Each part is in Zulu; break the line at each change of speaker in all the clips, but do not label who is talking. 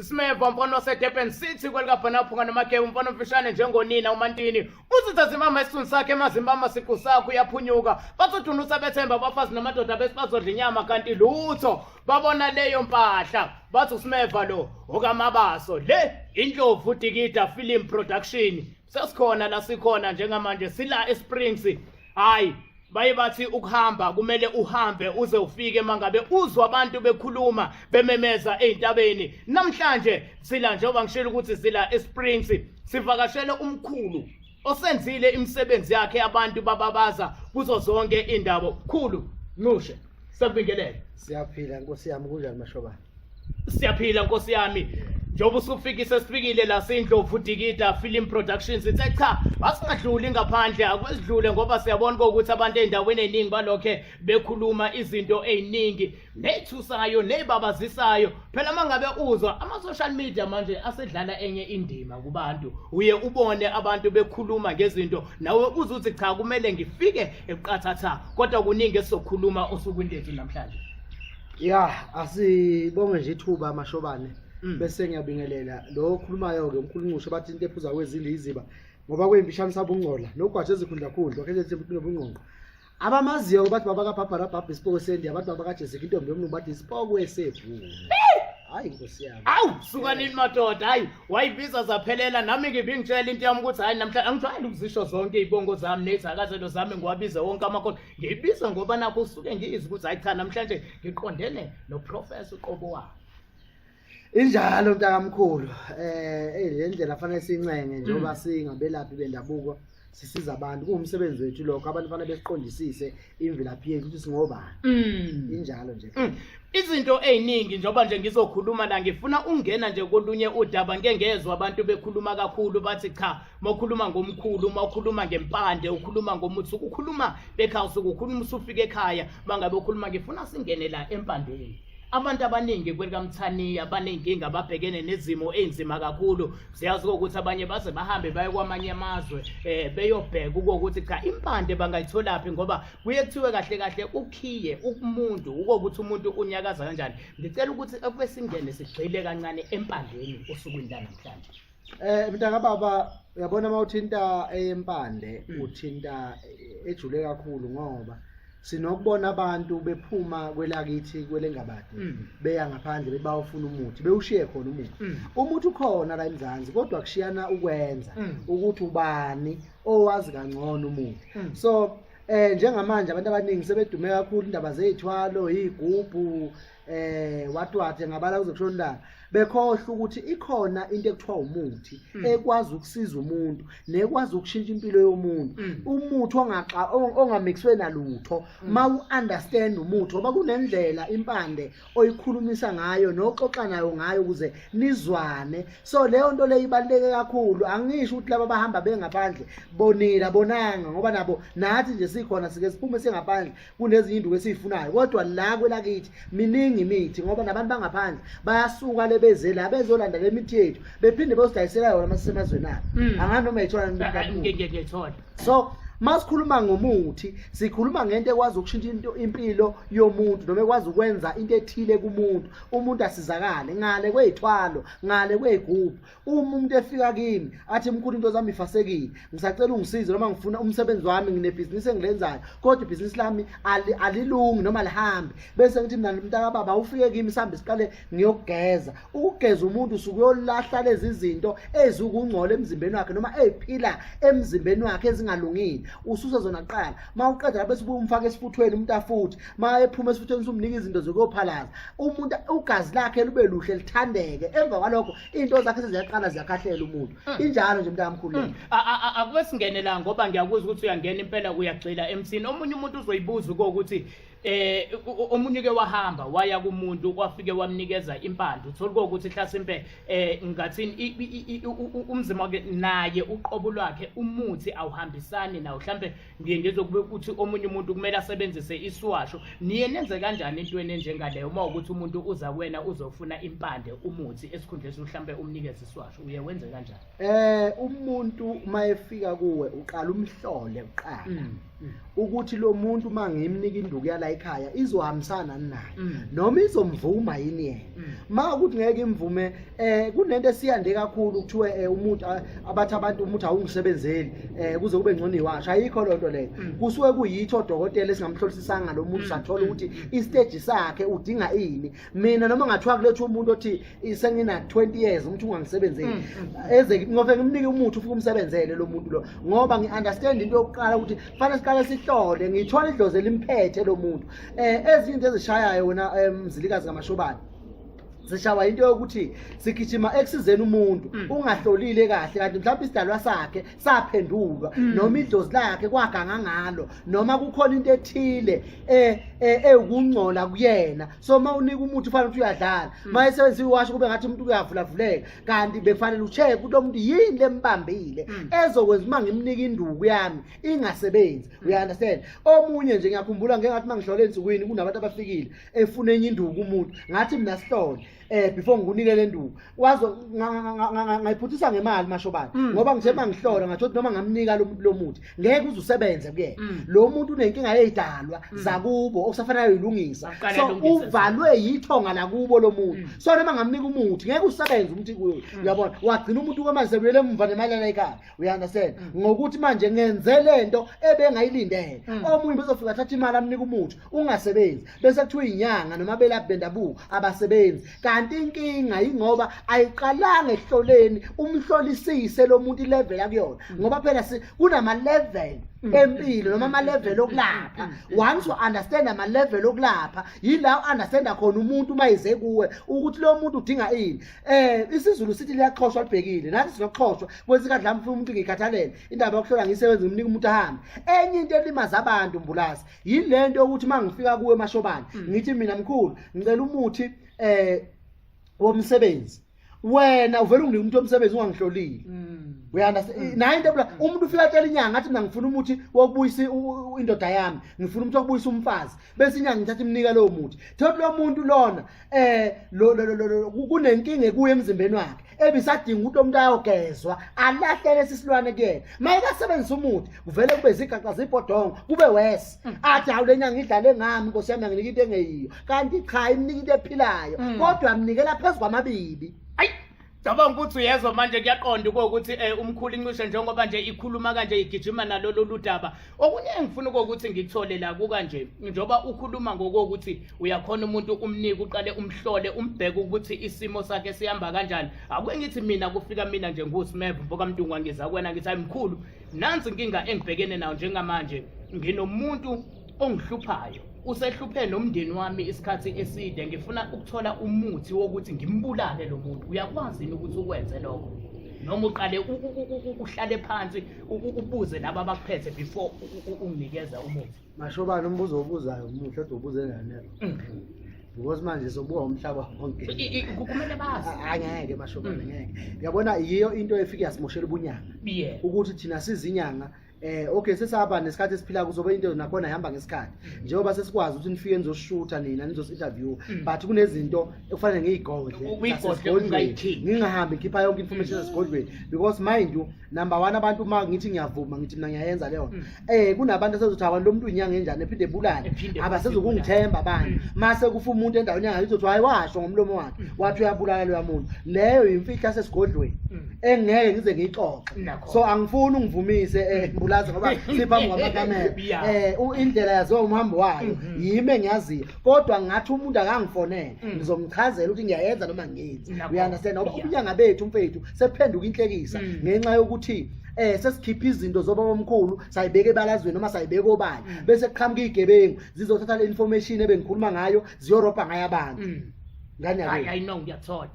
Smeva mfana waseDurban City kwelikabhana phunga nomakhewu mfana omfishane njengonina uMantini usitha zimama isithunzi sakhe emazimbama siqu sakho uyaphunyuka bazodunusa bethemba abafazi namadoda bese bazodla inyama kanti lutho babona leyo mpahla bathi uSmeva lo okamabaso le indlovu dikida film production sesikhona la sikhona njengamanje sila esprings hayi baye bathi ukuhamba kumele uhambe uze ufike mangabe uzwa abantu bekhuluma bememeza ezintabeni namhlanje sila njengoba ngishilo ukuthi sila esprings sivakashele umkhulu osenzile imisebenzi yakhe abantu bababaza kuzo zonke indawo khulu nqushe sakubingelele siyaphila nkosi
yami kunjani mashobana siyaphila
nkosi yami njengoba usufikise sifikile la sindlovu dikida film productions ithe cha asingadluli ngaphandle akwesidlule ngoba siyabona ukuthi abantu ey'ndaweni ey'ningi balokhe bekhuluma izinto ey'ningi ney'thusayo ney'babazisayo phela uma ngabe uzwa ama-social media manje asedlala enye indima kubantu uye ubone abantu bekhuluma ngezinto nawe uze uthi cha kumele ngifike eqathatha kodwa kuningi esizokhuluma osukwini lethu namhlanje ya
asibonge nje ithuba amashobane mm. bese ngiyabingelela lo okhulumayo-ke umkhulunqusho bathi into ephuza kwezindlu yiziba ngoba kuyimfishane sabungcola nogwaje ezikhundla khundla okhelethe nobungqongqo abamaziyo-ke bathi baba kabhabharabhabha isipoko sendiya abantu baba kajezeka intombi yomlungu bathi isipoko esevule hayi nkosi yami awu suka nini
madoda hayi wayibiza zaphelela nami ngibingitshela into yami ukuthi hayi namhlanje angijwayele ukuzisho zonke iy'bongo zami nezakazelo zami ngiwabize wonke amakhosi ngiyibiza ngoba nakho usuke ngiyizi ukuthi hayi cha namhlanje ngiqondene noprofesa uqobo wakhe
injalo mntakamkhulu eh le ndlela fanele sincenge njengoba mm. singabelaphi bendabuko sisiza abantu kuwumsebenzi wethu lokho abantu fanele besiqondisise imvelaphi yethu ukuthi singobani mm. injalo nje mm. izinto
eziningi njengoba nje ngizokhuluma la ngifuna ungena nje kolunye udaba ngeke ngezwe abantu bekhuluma kakhulu bathi cha uma ukhuluma ngomkhulu uma ukhuluma ngempande ukhuluma ngomuthi ukukhuluma bekhawusi ukukhuluma usufika ekhaya uma ngabe ukhuluma ngifuna singene la empandeni abantu abaningi kwelikamthaniya baney'nkinga ababhekene nezimo ey'nzima kakhulu siyazi kokuthi abanye baze bahambe baye kwamanye amazwe um beyobheka ukokuthi cha impande bangayitholaphi ngoba kuye kuthiwe kahle kahle ukhiye umuntu ukokuthi umuntu unyakaza kanjani ngicela ukuthi ekube singene sigxile kancane empandeni osukwini lanamhlanje Eh mntaka
baba uyabona uma uthinta eyempande hmm. uthinta eh, ejule kakhulu ngoba sinokubona abantu bephuma kwelakithi kwelengabade hmm. beya ngaphandle bebawufuna umuthi bewushiye khona umuthi hmm. umuthi ukhona la eMzansi kodwa kushiyana ukwenza ukuthi ubani owazi kangcono umuthi so eh njengamanje abantu abaningi sebedume kakhulu indaba zezithwalo izigubhu eh watwathe ngabala kuzokushonda bekhohle ukuthi ikhona into ekuthiwa umuthi mm. ekwazi ukusiza umuntu nekwazi ukushintsha impilo yomuntu mm. umuthi ongaxa ongamixwe nalutho mm. ma u understand umuthi ngoba kunendlela impande oyikhulumisa ngayo noxoxa nayo ngayo ukuze nizwane so leyo nto leyo ibaluleke kakhulu angisho ukuthi laba bahamba bengaphandle bonile abonanga ngoba nabo nathi nje sikhona sike siphume singaphandle kunezinye induku esiyifunayo kodwa la kwelakithi miningi imithi ngoba nabantu bangaphandle bayasuka le beze la bezolanda le mithi yethu bephinde beyozidayisela yona uma sisemazweni abo hmm. angani noma yithola nibukabuyithola
so
masikhuluma ngomuthi sikhuluma ngento ekwazi ukushintsha into impilo yomuntu noma ekwazi ukwenza into ethile kumuntu umuntu asizakale ngale kwezithwalo ngale kwezigubhu uma umuntu efika kimi athi mkhulu into zami ifasekile ngisacela ungisize noma ngifuna umsebenzi wami nginebhizinisi engilenzayo kodwa ibhizinisi lami alilungi noma lihambe bese ngithi mina mntaka baba ufike kimi sihambe siqale ngiyokugeza ukugeza umuntu usuke uyolahla lezi zinto ezikungcola emzimbeni wakhe noma eziphila emzimbeni wakhe ezingalungile ususe zona kuqala uma uqeda lapho esibuye umfake esifuthweni umuntu afuthi uma ephuma esifuthweni usumnika izinto zokuyophalaza umuntu ugazi lakhe lube luhle lithandeke emva kwalokho into zakhe seziyaqala ziyakhahlela umuntu hmm. injalo nje mntakamkhulu hmm. akube singene
la ngoba ngiyakuzwa ukuthi uyangena impela uyagxila emsini omunye umuntu uzoyibuza uko ukuthi eh omunye ke wahamba waya kumuntu kwafike wamnikeza impande uthola ukuthi hlasimpe eh ngathini umzima wake naye uqobo lwakhe umuthi awuhambisani nawo mhlambe ngiye ngizwe kube kuthi omunye umuntu kumele asebenzise isiwasho niye nenze kanjani entweni enjengaleyo uma ukuthi umuntu uza kuwena uzofuna impande umuthi esikhundleni mhlawumbe umnikeze isiwasho uye wenze kanjani eh
umuntu uma efika kuwe
uqala
umhlole uqala mm, mm. ukuthi lo muntu uma ngimnika induku yala ekhaya izohambisana naye mm. noma izomvuma yini yena uma ukuthi ngeke imvume eh kunento esiyande kakhulu kuthiwe eh, umuntu ah, abathi abantu umuntu awungisebenzeli eh kuze kube ngcono iwasha ayikho lonto leyo mm. kusuke kuyitho odokotela esingamhlolisisanga lo muntu mm. sathola ukuthi mm. i stage sakhe udinga ini mina noma ngathiwa kulethu umuntu othi sengina 20 years umuntu ungangisebenzeli eze ngobe ngimnike umuthi ufike umsebenzele lo muntu lo ngoba ngi understand into yokuqala ukuthi fanele siqale sihlole ngithola idlozi elimphethe lo muntu eh ezinto ezishayayo wena eh, mzilikazi kamashobana zishawa into yokuthi sigijima ekusizeni umuntu mm. ungahlolile kahle kanti mhlawumbe isidalwa sakhe saphendulwa mm. noma idlozi lakhe kwaganga ngalo noma kukhona into ethile eh, eh, ewukungcola kuyena so uma unika umuthi ufanele ukuthi uyadlala mm. uma esebenzisa iwasho kube ngathi umuntu uyavulavuleka kanti bekufanele ucheck ukuthi omuntu yini lembambile ezokwenza uma ngimnika induku yami ingasebenzi uyaunderstand omunye nje ngiyakhumbula ngengathi uma ngihlole ensukwini kunabantu abafikile efuna enye induku kumuntu ngathi mina sihlole eh before ngikunike le nduku wazo ngayiphuthisa ngemali mashobana mm. ngoba ngithe mangihlola ngathi ukuthi noma ngamnika lo muthi ngeke uzusebenze kuyena mm. lo muntu unenkinga yezidalwa mm. zakubo okusafanele uyilungisa so uvalwe yithonga lakubo lo muntu so noma ngamnika umuthi ngeke usebenze umuthi kuyo uyabona wagcina umuntu kwamanje sekuyele emva nemali ekhaya uya understand ngokuthi manje ngenze lento ebengayilindele omunye bezofika athatha imali amnika umuthi ungasebenzi bese kuthiwa inyanga noma belaphi bendabuko abasebenzi kanti inkinga yingoba ayiqalanga ehloleni umhlolisise lo muntu ilevel akuyona mm. ngoba phela kunama-level mm. empilo noma ama-level okulapha mm. once u-understand ama-level okulapha yila u-understanda khona umuntu uma yize kuwe ukuthi lo muntu udinga ini um isizulu sithi liyaxhoshwa libhekile nathi sinokuxhoshwa kwesikadlamfuna umuntu ngiyikhathalele indaba yokuhlola ngiyisebenzi ngimnika umuntu ahambe enye into elimaza abantu mbulazi yini le nto yokuthi uma ngifika kuwe emashobane hmm. ngithi mina mkhulu ngicela umuthi um womsebenzi wena uvele unginike umuntu womsebenzi ungangihlolile hmm. uyandastand hmm. naye into ebula umuntu ufika atshela inyanga athi mina ngifuna umuthi wokubuyisa indoda yami ngifuna umuthi wokubuyisa umfazi bese inyanga ngithatha imnika lowo muthi thothi lo muntu lona eh lo lo lo lo kunenkinga ekuye emzimbeni wakhe ebisadinga ukuthi umuntu ayogezwa alahlele sisilwane kuyena mayekasebenzisa umuthi kuvele kube zigaxa zibhodongo kube wes mm. athi hawu le nyanga idlale ngami nkosi yami anginike into engeyiyo kanti cha imnika into ephilayo mm. kodwa mnikela phezu kwamabibi Cabanga
ukuthi uyezwa manje kuyaqonda ukuthi eh, umkhulu incishe njengoba nje ikhuluma kanje igijima nalolu ludaba. Okunye engifuna ukuthi ngikuthole la kuka nje njengoba ukhuluma ngokuthi uyakhona umuntu umnike uqale umhlole umbheke ukuthi isimo sakhe sihamba kanjani. Akuke ngithi mina kufika mina nje nguSmeb mfoka Mdungwa ngiza kwena ngithi ayimkhulu. Nansi inkinga engibhekene nayo njengamanje nginomuntu ongihluphayo usehluphe nomndeni wami isikhathi eside ngifuna ukuthola umuthi wokuthi ngimbulale lo muntu uyakwazi yini ukuthi ukwenze lokho noma uqale uhlale phansi ubuze laba abakuphethe before unginikeza umuthi masho bani umbuzo
obuzayo umuhle ade ubuze nganelo mm-hmm. because manje sobuka umhlaba wonke kumele bazi
angeke masho bani mm.
ngeke uyabona yiyo into efike yasimoshela ubunyanga ukuthi thina sizinyanga Eh okay sesaba nesikhathi esiphila kuzobe into nakhona ihamba ngesikhathi mm. njengoba sesikwazi ukuthi nifike nizoshutha nina nizosinterview mm. but kunezinto ekufanele ngiyigodle ngingahambi ngikhipha yonke information mm. esigodlweni because mind you number 1 abantu uma ngithi ngiyavuma ngithi mina ngiyayenza leyo eh kunabantu asezothi abantu lomuntu inyanga enjani ephinde ebulale abasezokungithemba abantu mase kufa umuntu endaweni yanga izothi hayi washo ngomlomo wakhe wathi uyabulala loya muntu leyo imfihla sesigodlweni engeke ngize ngiyixoxe so angifuni ungivumise eh mbulazi ngoba siphambi kwamakamera Yeah. eh u- indlela yaziwa umhambi wayo Mhm. yimi engiyaziyo kodwa ngathi umuntu akangifonele Mm. ngizomchazela ukuthi ngiyayenza noma ngenzi Nakho. uyandastand ngoba Yeah. ubunyanga bethu mfethu sephenduka inhlekisa Mm. ngenxa yokuthi eh sesikhipha izinto zobaba omkhulu sayibeka ebalazweni noma sayibeka obala Mm. bese kuqhamuka igebengu zizothatha le information ebengikhuluma ngayo ziyorobha ngayo abantu Mm. ngani Hayi, yabo hayi,
no, ngiyathola.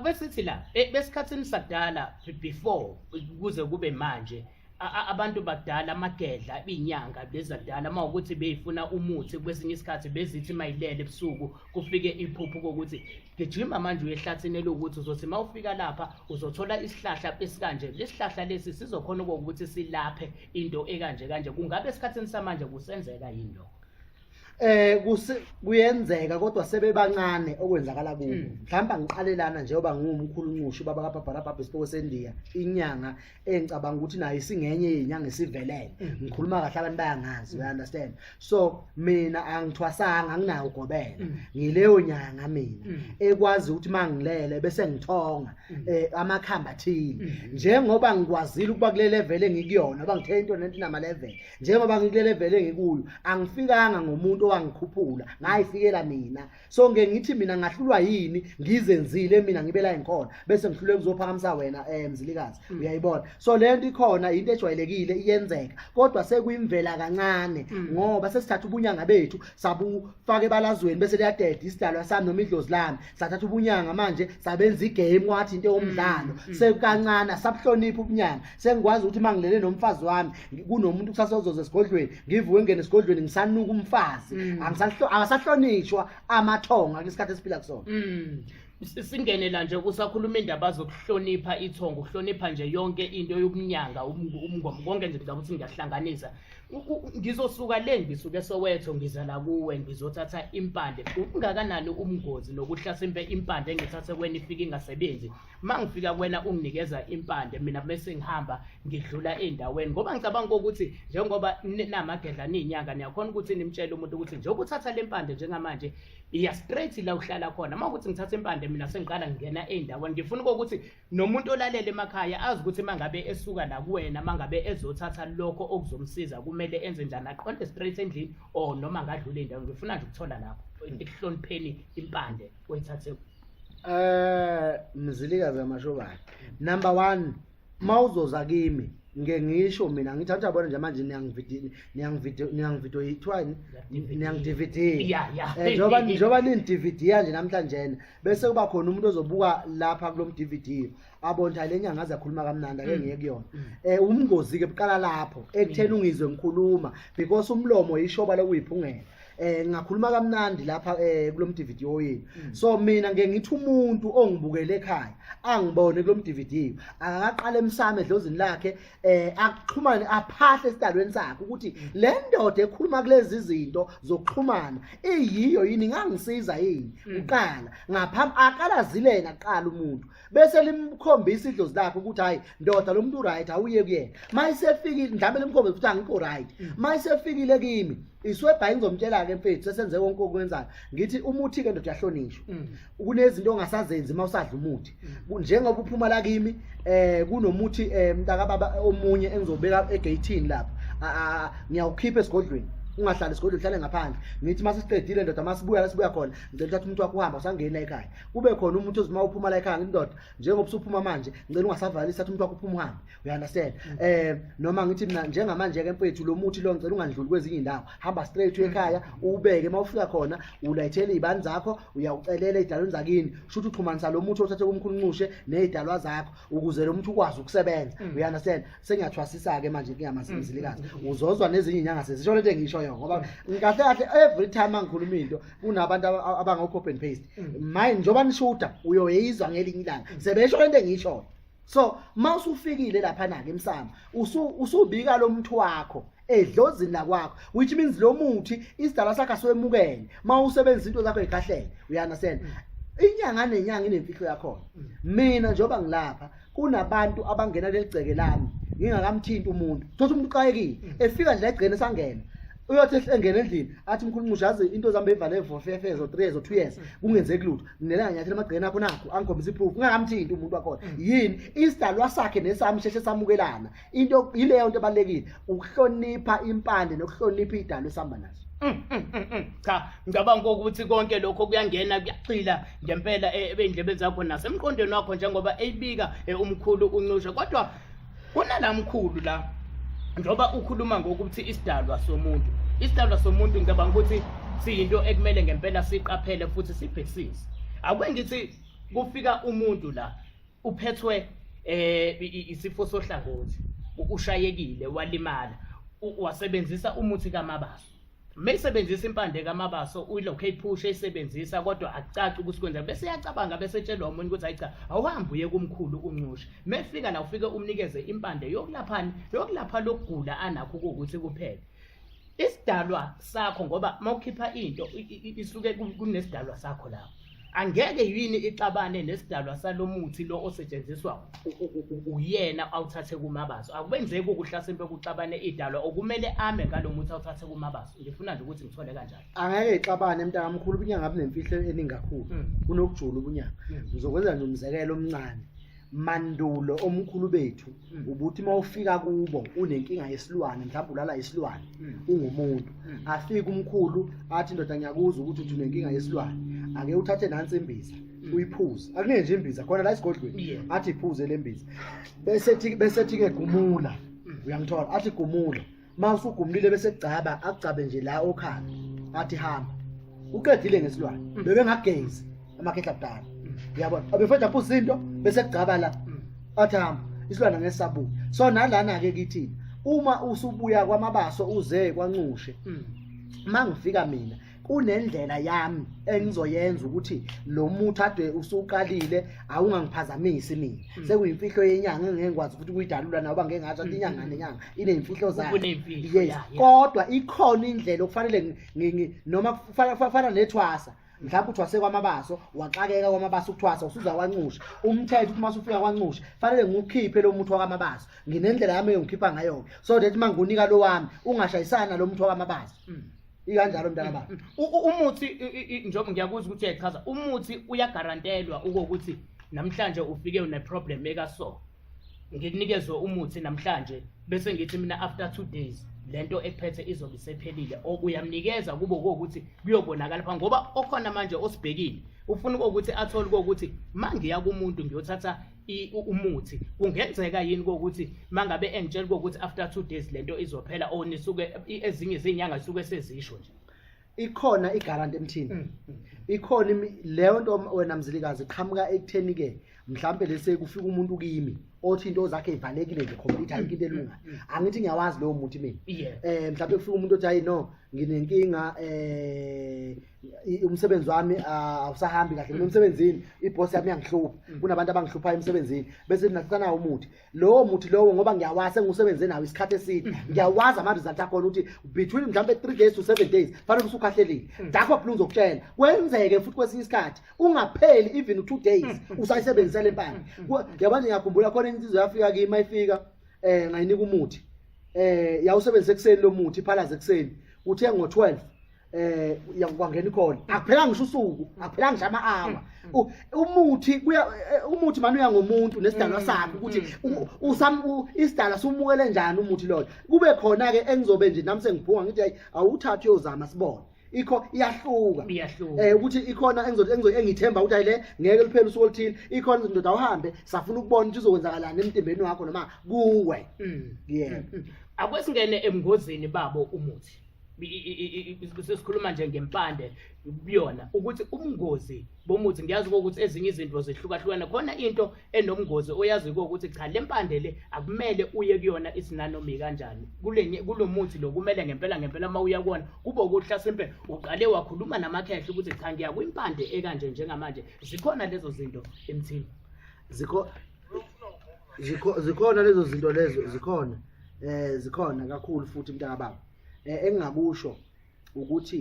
Besithi la e, besikhathini sadala before kuze kube manje abantu bakudala amagedla inyanga bezadala uma ukuthi beyifuna umuthi kwesinye isikhathi bezithi mayilele ebusuku kufike iphuphu kokuthi gijima manje uyehlathini elokuthi uzothi uma ufika lapha uzothola isihlahla esikanje lesihlahla lesi sizokhona ukuthi silaphe into ekanje kanje kungabe esikhathini samanje kusenzeka yini lokho eh kuse-
kuyenzeka kodwa sebebancane okwenzakala kubo Mm. mhlawumbe angiqalelana njengoba ngiwumkhulu nqushu baba kabhabhara bhabha isipoko sendiya inyanga engicabanga ukuthi nayo isingenye yenyanga esivelele Mm. ngikhuluma kahle abantu bayangazi you understand so mina angithwasanga anginayo ugobela Mm. ngileyo nyanga mina Mm. ekwazi ukuthi mangilele bese ngithonga Mm. eh amakhamba athile Mm. njengoba ngikwazile ukuba kule level engikuyona bangithe into nento nama level njengoba ngikule vele ngikuyo angifikanga ngomuntu owangikhuphula ngayifikela mina so ngeke ngithi mina ngahlulwa yini ngizenzile mina ngibe la engikhona bese ngihlulwe kuzophakamisa wena eh mzilikazi mm. uyayibona so lento ikhona into ejwayelekile iyenzeka kodwa sekuyimvela kancane mm. ngoba sesithatha ubunyanga bethu sabufaka ebalazweni bese liyadeda isidalwa sami noma idlozi lami sathatha ubunyanga manje sabenza igame wathi into yomdlalo mm, mm. sekukancane sabuhlonipha ubunyanga sengikwazi ukuthi uma ngilele nomfazi wami kunomuntu kusasa ozoza esigodlweni ngivuke ngene esigodlweni ngisanuka umfazi mm. angisahlonishwa amathonga kwisikhathi esiphila kusona
singene la nje kusakhuluma indaba zokuhlonipha ithongo ukuhlonipha nje yonke into yokunyanga umngoma konke nje ngicabanga ukuthi ngiyahlanganisa ngizosuka le ngisuke sowetho ngiza la kuwe ngizothatha impande ungakanani umngozi nokuhlasimpe impande engithathe kwena ifike ingasebenzi uma ngifika kwena unginikeza impande mina bese ngihamba ngidlula ey'ndaweni ngoba ngicabanga ukuthi njengoba namagedla niy'nyanga niyakhona ukuthi nimtshele umuntu ukuthi njengoba uthatha le mpande njengamanje iya straight la uhlala khona uma ukuthi ngithatha impande mina sengiqala ngingena ey'ndaweni ngifuna ukuthi nomuntu olalele emakhaya azi ukuthi mangabe esuka la kuwena mangabe ezothatha lokho okuzomsiza kumele enze njani aqonde straight endlini or noma ngadlula indawo ngifuna nje ukuthola lapho ekuhlonipheni impande oyithathe eh
mzilikazi amashobane number 1 mawuzoza kimi ngeke ngisho mina ngithatha bona nje manje niyangividini niyangivido niyangivido yithwani niyangidividini eh, njengoba njengoba nini-dvd yanje namhlanje bese kuba khona umuntu ozobuka lapha kulo mDVD abonta le nyanga azakhuluma kamnandi ake mm. ngiye kuyona mm. eh umngozi ke buqala lapho ekutheni mm. ungizwe ngikhuluma because umlomo yishoba lokuyiphungela eh ngakhuluma kamnandi lapha eh kulo mDVD oyini so mina ngeke ngithi umuntu ongibukele ekhaya angibone kulo mDVD akaqala emsame edlozini lakhe eh akuxhumane aphahle esidalweni sakhe ukuthi le ndoda ekhuluma kulezi zinto zokuxhumana iyiyo yini ngangisiza yini mm. uqala ngaphambi akalazilena qala umuntu bese limkhombisa idlozi lakhe ukuthi hayi ndoda lo muntu right awuye kuyena mayisefikile mhlawumbe limkhombisa ukuthi angikho right mm. mayisefikile kimi iswebha ingizomtshela ke mfethu sesenze konke okwenzayo ngithi umuthi ke ndoda yahlonishwa mm. kunezinto ongasazenzi uma usadla umuthi njengoba uphuma la kimi eh kunomuthi eh mntaka baba omunye engizobeka egate lapha ngiyawukhipha esigodlweni ungahlali esigodlweni uhlale ngaphandle ngithi uma sesiqedile ndoda uma sibuya la sibuya khona ngicela uthatha umuntu wakho uhamba usangeni la ekhaya kube khona umuntu ozima uphuma la ekhaya ngindoda njengoba usuphuma manje ngicela ungasavalisi thatha umuntu wakho uphuma uhambe you understand mm. eh noma ngithi mina njengamanje ke mfethu lo muthi lo ngicela ungandluli kwezinye indawo hamba straight ekhaya mm. ubeke mawufika khona ulayithele izibani zakho uyawucelela idalweni zakini shuthi uxhumanisa lo muthi othathe kumkhulunqushe nezidalwa zakho ukuze lo muthi ukwazi ukusebenza mm. you understand sengiyathwasisa ke manje kuyamasimzilikazi uzozwa nezinye inyanga sezisho lento engisho yona ngoba ngikahle kahle every time angikhuluma into kunabantu abangokho open paste mine njoba nishuda uyoyizwa ngelinye ilanga sebesho lento engisho so mawusufikile lapha nake emsamo usubika lo muntu wakho edlozini lakwakho which means lo muthi isidala sakhe aswemukele mawusebenzisa into zakho ekahlele you understand mm. inyanga nenyanga inemfihlo yakho mm. mina njoba ngilapha kunabantu abangena leligceke lami ngingakamthinti umuntu thothi umuntu uqayekile mm. efika nje egcene sangena uyothi engena endlini athi mkhulu nqushazi into zami beyivale for 5 years or 3 years or 2 years kungenzeki lutho nelanga nyathela amagqina akho nakho angikhombisa iproof ungakamthinti umuntu wakhona mm. yini isidalwa sakhe nesami sheshe samukelana into yileyo nto ebalekile ukuhlonipha impande nokuhlonipha idalo esihamba naso mm, mm, cha
ngicabanga ukuthi konke lokho kuyangena kuyaxila ngempela eh, ebendlebeni zakho nasemqondweni wakho njengoba eyibika eh, umkhulu uncushe kodwa kunala mkhulu la njengoba ukhuluma ngokuthi isidalwa somuntu isidalwa somuntu ngicabanga ukuthi siyinto ekumele ngempela siqaphele futhi sibhekisise akwengithi kufika umuntu la uphethwe eh isifo sohlangothi ushayekile walimala wasebenzisa umuthi kamabaso mesebenzisa impande kamabaso uyilokhu eyiphusha eyisebenzisa kodwa akucaci ukuthi kwenza bese yacabanga bese tshelwa umuntu ukuthi hayi cha awuhambe uye kumkhulu uncushe mefika la ufike umnikeze impande yokulaphani yokulapha lokugula anakho ukuthi kuphele isidalwa sakho ngoba mawukhipha into isuke kunesidalwa sakho lapho angeke yini ixabane nesidalwa salomuthi lo osetshenziswa uyena awuthathe kumabaso akubenzeki ukuhlasela bekuxabane idalwa okumele ame ngalomuthi awuthathe kumabaso ngifuna nje ukuthi ngithole kanjalo angeke ixabane
mntaka mkhulu ubunyanga bunemfihlo eningi kakhulu hmm. kunokujula ubunyanga hmm. ngizokwenza nje umzekelo omncane mandulo omkhulu bethu mm. ubuthi uma ufika kubo unenkinga yesilwane mhlawumbe ulala isilwane mm. ungumuntu mm. afike umkhulu athi indoda ngiyakuzwa ukuthi uthi unenkinga yesilwane ake uthathe nansi imbiza uyiphuze akuningi nje imbiza khona la esigodlweni athi iphuze le mbiza bese ethi bese ethi ke gumula uyangithola athi gumula masugumlile bese gcaba agcabe nje la okhala athi hamba uqedile ngesilwane mm. bebe ngagezi amakhehla kudala mm. uyabona abefethu apho izinto bese gcaba la mm. athi hamba isilwane ngesabuya so nalana ke kithi uma usubuya kwamabaso uze kwanxushe mangifika mina kunendlela yami engizoyenza ukuthi lo muthi ade usuqalile awungangiphazamisi mina hmm. sekuyimfihlo yenyanga engeke ngikwazi ukuthi kuyidalula nawoba ngeke ngathi athi inyanga hmm. nenyanga ineyimfihlo zayo yes kodwa ikhona indlela okufanele noma kufana nethwasa mhlawumbe uthwase kwamabaso waxakeka kwamabaso ukuthwasa usuza kwanxusha umthetho uma usufika kwanxusha fanele ngiwukhiphe lo muthi wakamabaso nginendlela yami engikhipha ngayo so that mangunika lo wami ungashayisana lo muthi wakamabaso mm. ikanjalo mntana baba U- u- umuthi
i- i- i- njengoba ngiyakuzwa ukuthi uyachaza umuthi uyagarantelwa ukokuthi namhlanje ufike uneproblem ekaso ngikunikezwe umuthi namhlanje bese ngithi mina after two days le nto ekuphethe izobe isephelile or uyamnikeza kube kokuthi kuyobonakala pha ngoba okhona manje osibhekile ufuna kokuthi athole kokuthi ma ngiya kumuntu ngiyothatha umuthi kungenzeka yini kokuthi mangabe engitshela ukuthi after 2 days lento izophela or nisuke ezinye izinyanga suke sezisho nje ikhona
igarant emthini mm, mm. ikhona leyo nto wena mzilikazi qhamuka ekutheni ke mhlambe lese kufika umuntu kimi othi into zakhe ivalekile nje complete ayikho into elunga mm, angithi ngiyawazi lowo muntu mina eh mhlambe kufika umuntu othi hayi no nginenkinga eh i- umsebenzi wami ah, awusahambi kahle mina emsebenzini ibhosi yami iyangihlupha kunabantu abangihluphayo emsebenzini bese nakusana umuthi lowo muthi lowo ngoba ngiyawazi engiwusebenze nawo isikhathi eside ngiyawazi ama-result akhona ukuthi between mhlawumbe three days to seven days fanele usukhahlelile dakho phela uzokutshela kwenzeke futhi kwesinye isikhathi ungapheli even u-two days usayisebenzisa le mpande Ku- yabona ngiyakhumbula khona insizwa yafika kimi mayifika um ngayinika umuthi um yawusebenzisa ekuseni lo muthi iphalaze ekuseni uthe ngo-twelve eh yakwangena ikhona akuphelanga ngisho usuku akuphelanga nje ama-hour U- umuthi kuya eh, umuthi mani uya ngomuntu nesidalwa sakhe ukuthi u- usam- u- isidalwa sumukele njani umuthi loyo kube khona-ke engizobe nje nami sengibhunga ngithi hayi awuthathi uyozama sibone ikho iyahluka Iyahluka. eh ukuthi ikhona engizothi engizo- engithemba ukuthi hayi le ngeke liphele usuku oluthile ikhona ukuthi ndoda awuhambe safuna ukubona ukuthi uzokwenzakalani emtimbeni wakho noma kuwe Mm. yebo akwesingene
ebungozini babo umuthi sesikhuluma nje ngempande kuyona ukuthi ubungozi bomuthi ngiyazi ukuthi ezinye izinto zihlukahlukene khona into enobungozi oyazi ukuthi cha le mpande le akumele uye kuyona isinanomika kanjani kulenye kulomuthi lokumele ngempela ngempela uma uya kuwona kube ukuhla simpe uqale wakhuluma namakhehla ukuthi cha ngiya kwimpande ekanje njengamanje zikhona lezo zinto emthini zikho
zikhona lezo zinto lezo zikhona eh zikhona kakhulu futhi mntaka baba eh, engingakusho ukuthi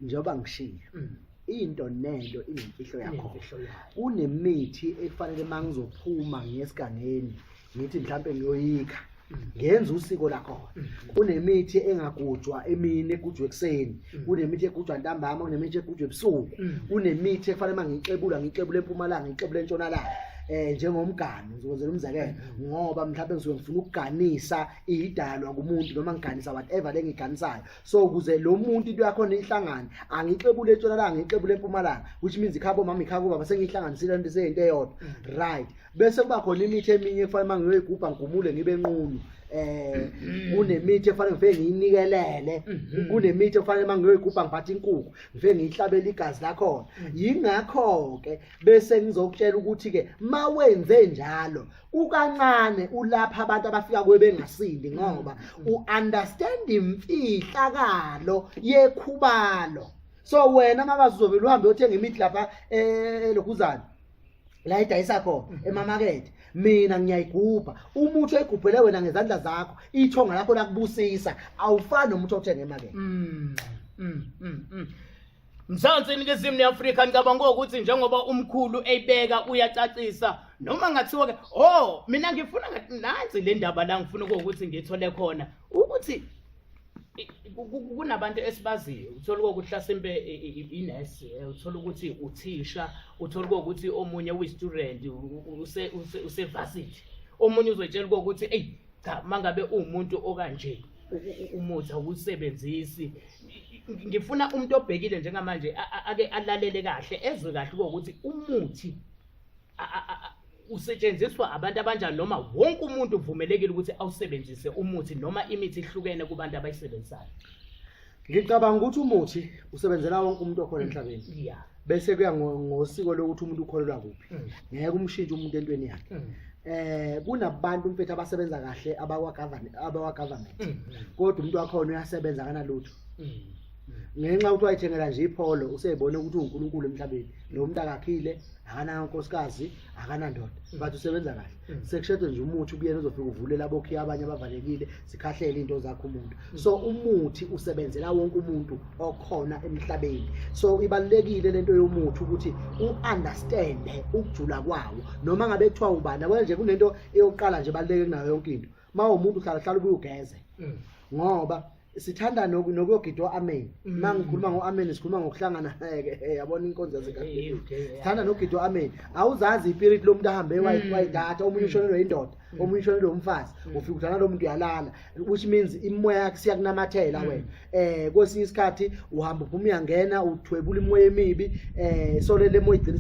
njengoba ngishilo mm. into nento inemfihlo yakho kunemithi ekufanele mangizophuma ngesigangeni ngithi mhlambe ngiyoyikha ngenza usiko lakhona mm-hmm. kunemithi engagujwa emini egujwa ekuseni mm-hmm. kunemithi egujwa ntambama kunemithi egujwa ebusuku mm-hmm. kunemithi efanele uma ngixebula ngixebule empumalanga ngixebule entshonalanga um njengomgani ngizokwenzela umzekelo ngoba mhlawumbe ngisuke ngifuna ukuganisa iyidalwa kumuntu noma ngiganisa whatever lengiganisayo so ukuze lo muntu into yakho nihlangane angixebule etshonalanga ngixebule empumalanga which means ikhabo mama ikhako baba sengihlanganisile into seyinto eyodwa mm. right bese kuba khona imithi eminye efanele uma ngiyoyigubha ngigumule ngibe nqunu eh mm-hmm. kunemithi efanele ngifike ngiyinikelele mm-hmm. kunemithi efanele uma ngiyoyigubha ngiphathe inkukhu ngifike ngiyihlabela igazi lakhona mm. yingakho ke bese ngizokutshela ukuthi ke mawenze njalo ukancane ulapha abantu abafika kuwe bengasindi ngoba mm. uunderstand imfihlakalo yekhubalo so wena makazizobe luhambe uthenga imithi lapha elokhuzana eh, la idayisa khona mm. emamakethe mina ngiyayigubha umuthi oyigubhele wena ngezandla zakho ithonga lakho lakubusisa awufani nomuthi othenga emakethe mm,
Mzansi iningizimu neAfrika ngicabanga ukuthi njengoba umkhulu eyibeka uyacacisa noma ngathiwa ke oh mina ngifuna nansi le ndaba la ngifuna ukuthi ngithole khona ukuthi kunabantu esibaziyo uthola ukuthi hlasimpe inesi eh, uthola ukuthi uthisha uthola ukuthi omunye uyi-student usevasithi omunye uzoyitshela ukuthi eyi cha mangabe uwumuntu okanje umuthi awusebenzisi ngifuna umuntu obhekile njengamanje ake alalele kahle ezwe kahle ukuthi umuthi usetshenziswa abantu abanjani noma wonke umuntu uvumelekile ukuthi awusebenzise umuthi noma imithi ihlukene kubantu abayisebenzisayo
ngicabanga ukuthi umuthi usebenzela wonke umuntu okhona emhlabeni ya bese kuya ngo- ngosiko lokuthi umuntu ukholelwa kuphi Mm. ngeke umshintshe umuntu entweni yakhe Mm. eh kunabantu mfethu abasebenza kahle abakwa government abakwa government Mm. kodwa umuntu wakhona uyasebenza kanalutho Mm. ngenxa ukuthi wayithengela nje ipholo useyibone ukuthi uNkulunkulu emhlabeni lo muntu akakhile akanankosikazi akanandoda but usebenza kahle Mm. sekushedwe nje umuthi kuyena uzofika uvulela abokhiya abanye abavalekile zikhahlele into zakho umuntu so umuthi usebenzela wonke umuntu okhona emhlabeni so ibalulekile lento yomuthi ukuthi uunderstand ukujula kwawo noma ngabe kuthiwa ubani yabona nje kunento eyokuqala nje baluleke kunayo yonke into mawo umuntu uhlala hlala ubuyugeze mm. ngoba sithanda nokuyogidwa amen mm. ma ngikhuluma ngo-amen sikhuluma ngokuhlangana ke eh, yabona inkonzo yasekahulumeni sithanda nokugidwa amen awuzazi ipiriti lomuntu ahambe mm. wayidata omunye ushonelwe indoda Mm. uma uyishonele umfazi mm. ufika udlala lo muntu uyalala which means imoya yakhe siyakunamathela mm. wena eh kwesinye isikhathi uhamba uphuma uyangena uthwebula imoya emibi eh sole le moya igcina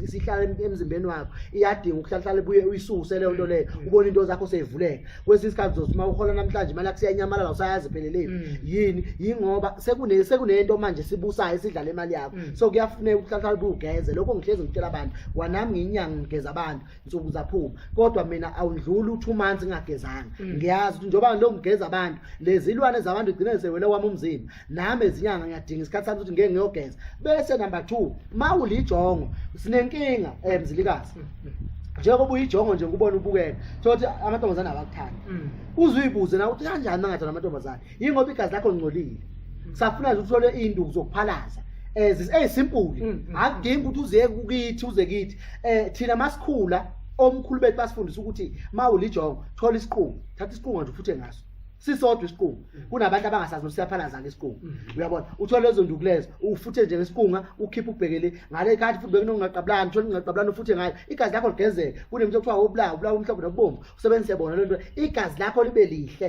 isihlala emzimbeni wakho iyadinga ukuhlahlala buye uyisuse leyo nto leyo ubona into zakho seyivuleka kwesinye isikhathi uzosuma uhola namhlanje imali yakho siyanyamalala usayazi pheleleni yini yingoba sekune sekunento manje sibusayo esidlala imali yakho so kuyafuneka ukuhlahlala buye ugeze lokho ngihlezi ngitshela abantu kwanami ngiyinyanga ngigeza abantu nsuku zaphuma kodwa mina awundluli u2 months ngagezanga mm. ngiyazi ukuthi njoba lo ngigeza abantu lezilwane zabantu igcine sewele wami umzimba nami ezinyanga ngiyadinga isikhathi sami ukuthi ngeke ngiyogeza bese number 2 mawulijongo sinenkinga emzilikazi eh, mm, mm. njengoba uyijongo nje ngubona ubukela thothi amantombazane abakuthanda uzuyibuze na ukuthi kanjani mangathanda amantombazane yingoba igazi lakho lingcolile safuna nje uthole induku zokuphalaza eh zis- eyisimpuli Mm, mm. akudingi ukuthi uze kukithi uze kithi eh thina masikhula omkhulu bethu basifundisa ukuthi mawulijongo thola isiqungu thatha isiqungu nje ufuthe ngaso sisodwa isiqungu kunabantu abangasazi ukuthi siyaphalaza ngesiqungu uyabona uthole lezo nduku lezo ufuthe nje ngesiqunga ukhiphe ubhekele ngale khathi futhi bekunongaqabulani uthole ingaqabulani ufuthe ngayo igazi lakho ligezeke kunemntu okuthiwa wobulawa ubulawa umhlophe nokubomvu usebenzise bona lento igazi lakho libe lihle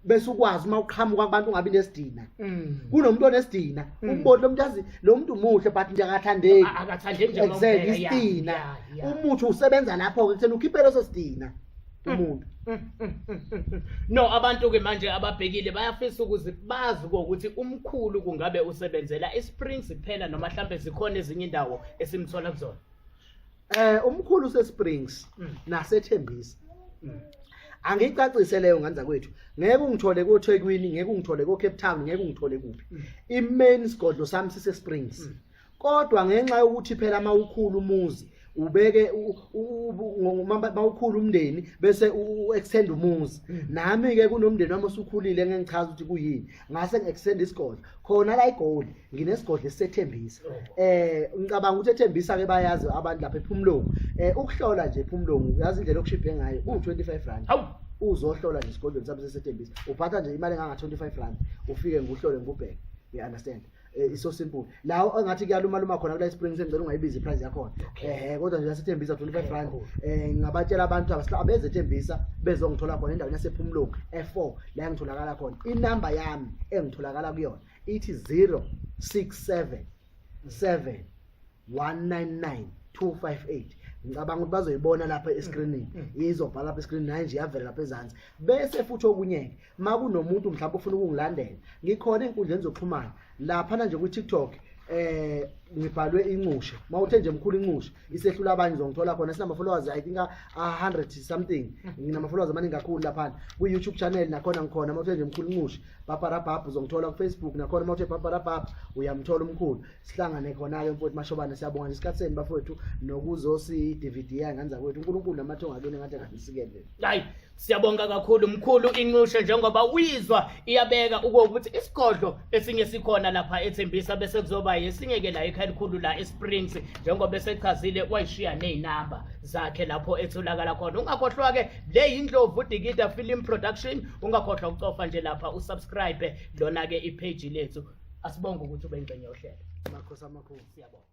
bese ukwazi uma uqhamuka kubantu ungabi nesidina mm. kunomuntu onesidina mm. umboni lo muntu azi lo muntu muhle but nje akathandeki akathandeki nje exactly isidina umuthi usebenza lapho ke kuthena ukhiphe leso sidina mm. umuntu
no abantu ke manje ababhekile bayafisa ukuthi bazi ukuthi umkhulu kungabe usebenzela isprings kuphela noma mhlambe zikhona ezinye indawo esimthola kuzona Eh
umkhulu useSprings Mm. nasethembisa. Mm. Angicacise leyo ngane zakwethu. Ngeke ungithole koThekwini, ngeke ungithole koCape Town, ngeke ungithole kuphi. Mm. Imain sigodlo sami siseSprings. Mm. Kodwa ngenxa yokuthi phela mawukhulu umuzi ubeke u- u- u- ngo- ma- mawukhulu umndeni bese u- u-extend umuzi Mm. nami ke kunomndeni wami osukhulile ngengichaza ukuthi kuyini ngase ngikusenda isigodlo khona la igoli nginesigodlo esethembisa eh ngicabanga ukuthi ethembisa ke bayazi abantu lapha ephumlungu eh ukuhlola nje ephumlungu uyazi indlela okushiphe ngayo ku 25 rand hawu uzohlola nje isigodlo ngisabese sethembisa uphatha nje imali enganga 25 rand ufike nguhlole ngubheke you understand eh, isosimple lawo engathi kuyaluma luma khona kula spring sengicela ungayibizi iprice yakhona ehe kodwa nje yasethembisa 25 rand eh ngabatshela abantu abasihla abezethembisa bezongithola khona endaweni yasephumlungu e4 la ngitholakala khona inamba yami engitholakala kuyona ithi 067 7 199 258 ngicabanga ukuthi bazoyibona lapha escreenini mm, mm. izobhala lapha escreenini hayi nje yavela lapha ezansi bese futhi okunyeke uma kunomuntu mhlawumbe ufuna ukungilandela ngikhona ey'nkundleni zokuxhumana laphana nje kwi-tiktok eh ngibhalwe inxushe mawuthe nje mkhulu inxushe isehlula abanye uzongithola khona sinama followers i think a 100 something nginama followers amaningi kakhulu lapha ku YouTube channel nakhona ngikhona mawuthe nje mkhulu inxushe papa rabab uzongithola ku Facebook nakhona mawuthe papa rabab uyamthola umkhulu sihlangane khona ke mfowethu mashobane siyabonga nje isikhathi senu bafowethu nokuzosi DVD yanganza kwethu uNkulunkulu namathonga kini ngathi kangisikele hayi Siyabonga
kakhulu mkhulu inxushe njengoba uyizwa iyabeka ukuthi isigodlo esinye sikhona lapha ethembisa bese kuzoba yesinye ke la ekhaya elikhulu la eSprings njengoba esechazile wayishiya nezinamba zakhe lapho etholakala khona ungakhohlwa ke le yindlovu Digida Film Production ungakhohlwa ukucofa nje lapha usubscribe lona ke ipage lethu asibonge ukuthi ube ingxenye yohlelo
makhosi
amakhulu siyabonga